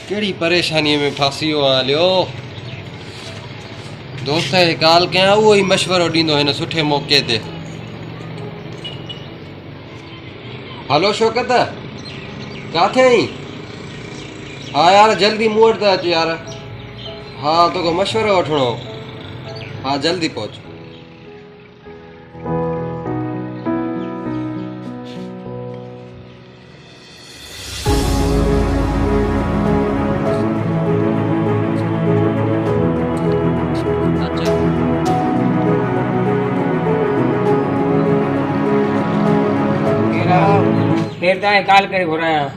کيڙي پريشاني ۾ ڦاسي ويو آهيان ليو دوست کي ڪال ڪيان اهو ئي مشورو ڏيندو هن سٺي موقعي تي هلو شوڪت ڪاٿي آهين ها يار جلدي مون وٽ ته اچ يار ها توکي مشورو وٺڻو ها جلدي پهچ تائين ڪال ڪري گهرايان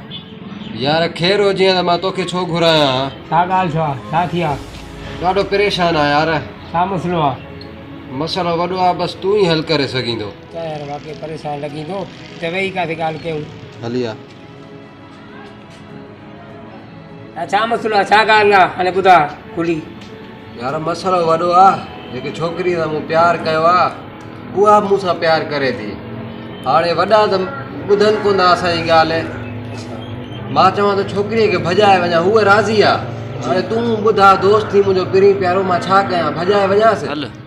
يار خير هجي ته مان توکي ڇو گهرايان ڇا ڳالهه ڇا ڇا ٿي آ ڏاڍو پريشان آ يار ڇا مسئلو آ مسئلو وڏو آ بس تون ئي حل ڪري سگهين ٿو ڪير واقعي پريشان لڳيندو. چوي ئي ڪاٿي ڳالهه ڪيون. هلي آ. اهي ڇا مسئلو آ ڇا ڳالهه آ هاڻي ٻڌاء کلي. يار مسئلو وڏو آ جيڪي ڇوڪري سان مون پيار ڪيو آ اها به مون سان پيار ڪري ٿي هاڻي وڏا ته ٻڌن ڪون ٿا اسان جي ڳالهه مان چوان ٿو ڇوڪري کي ڀڄائي وڃان هوء راضي آ هاڻي تون ٻڌاء دوست ٿي منهنجو پرين پيارو مان ڇا ڪيان ڀڄائي وڃانس.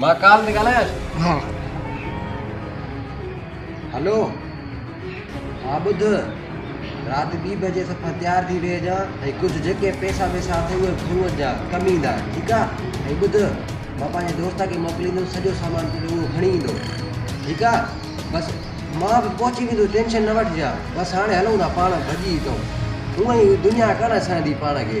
مان ڪال تي ڳالهايانس. ها. هلو. ها ٻڌ. رات ٻي بجي صفا تيار ٿي ويهجان ۽ ڪجهه جيڪي پئسا وئسا اٿئي اهي گهرو اچجان ڪم ايندا. ٺيڪ آ. ۽ ٻڌ. مان پنهنجي دوست کي موڪليندس سڄو سامان تون اهو کڻي ايندو. ٺيڪ آ. بس مان به پهچي ويندس ٽينشن نه وٺجان. بس هاڻي هلون ٿا پاڻ ڀڄي هتئون. هونئن هي دنيا ڪانه سهندي پاڻ کي.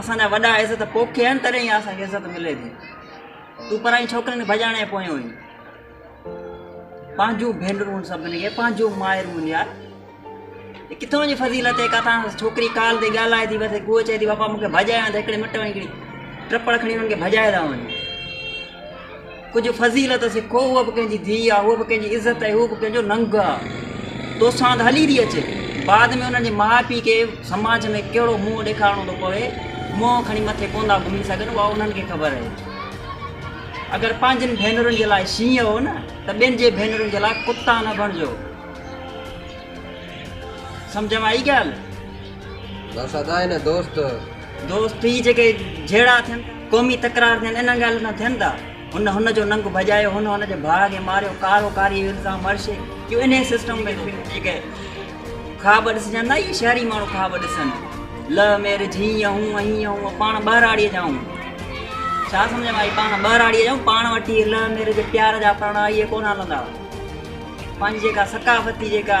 اسان جا وڏا عزت پوکين آهن تڏهن ئي اسان کي عزت ملي ٿي تون پرائين ڇوڪرين کي ڀڄاڻي پويو آهين پنهنجون ڀينرون سڀني کي پنهنجون مائرون يار ڪٿان جي فضيلت هي ڪٿان ڇوڪري ڪال تي ڳالهائي ٿي بس گوء چئي ٿي پاپا مونکي ڀڄايان ته هڪڙي مٽ وڃي ٽپڙ کڻي هنن کي ڀڄائي ٿا وڃن ڪجهه فضيلت سکو، هوء به ڪنهن جي ڌيء آ، هوء به ڪنهن جي عزت ۽ هو به ڪنهن جو ننگ آ. تو ساند هلي ٿي اچي، بعد ۾ انهن جي ماء پيء کي سماج ۾ ڪهڙو منهن ڏيکارڻو ٿو پوي، منهن کڻي مٿي ڪونه ٿا گهمي سگهن، اها انهن کي خبر آهي. اگر پنهنجين ڀينرن جي لاء شينهن هو نه ته ٻين جي ڀينرن جي لاء ڪتا نه بڻجو. سمجهه ۾ آئي ڳالهه؟ بس ادا هي نه دوست. دوست هي جيڪي جهيڙا ٿين قومي تڪرار ٿين انهن ڳالهين سان ٿين ٿا هن هن جو ننگ ڀڄايو هن هن جي ڀاء کي ماريو ڪارو ڪاري جو الزام هر شي جو انهي سسٽم ۾ ٿو جيڪي خواب ڏسجن ٿا اهي شهري ماڻهو خواب ڏسن لو ميرج هيئن هون هيئن هون پاڻ ٻهراڙيء جا آهون ڇا سمجھ ۾ آئي پاڻ ٻهراڙيء جا آهون پاڻ وٽي لو ميرج پيار جا پراڻا اهي ڪونه هلندا پنهنجي جيڪا ثقافتي جيڪا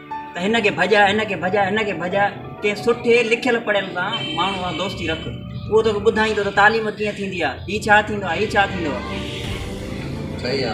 ته هن کي ڀڄاء، هن کي ڀڄاء، هن کي ڀڄاء، ڪنهن سٺي لکيل پڙهيل سان ماڻهو سان دوستي رک، اهو توکي ٻڌائيندو ته تعليم ڪيئن ٿيندي آهي، هي ڇا ٿيندو آهي، هي ڇا ٿيندو آهي. صحيح آ.